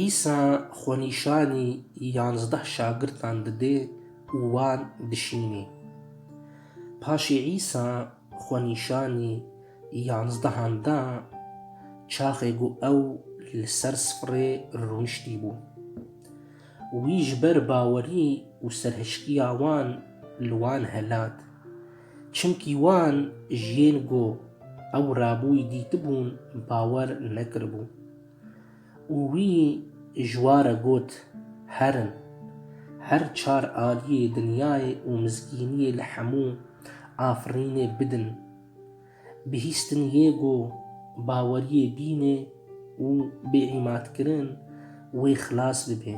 Îsa xwenîşanî yanzdeh şagirtan dide û wan dişînî. Paşê Îsa xwenîşanî yanzdehan da çaxê ku ew li ser sifrê rûniştî bû. Wî ji ber bawerî û serhişkiya wan li wan helat. Çimkî wan ji yên ku ew rabûyî dîtibûn bawer nekiribû. Û wî ji wa re got, Herin. Her çar aliyê dinyayê û mizgîniyê li hemû afirînê bidin. Bihîstin yê ku baweriyê bînê û bêîmadkirin wê xilas bibe.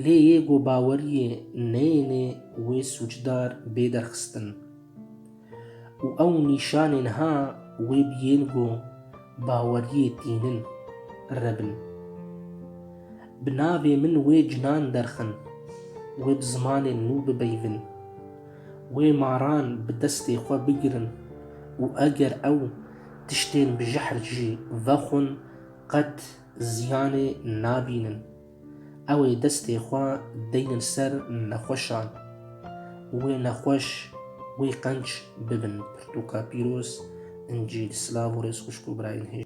Lê yê ku baweriyê neyêne wê sûcdar bê derxistin. Û ew nîşanên ha wê biyên ku Baweriyê tînin re bin. Bi navê min wê cinan derxin. Wê bi zimanên nû bibeyvin. Wê maran bi destê xwe bigirin û eger ew tiştên bi jihr jî vexwin qet ziyanê nabînin. Ew ê destê xwe deynin ser nexweşan. Wê nexweş, wê qenc bibin pirtûka pîroz, incîl, silav û rêz xwişk û birayên hêj.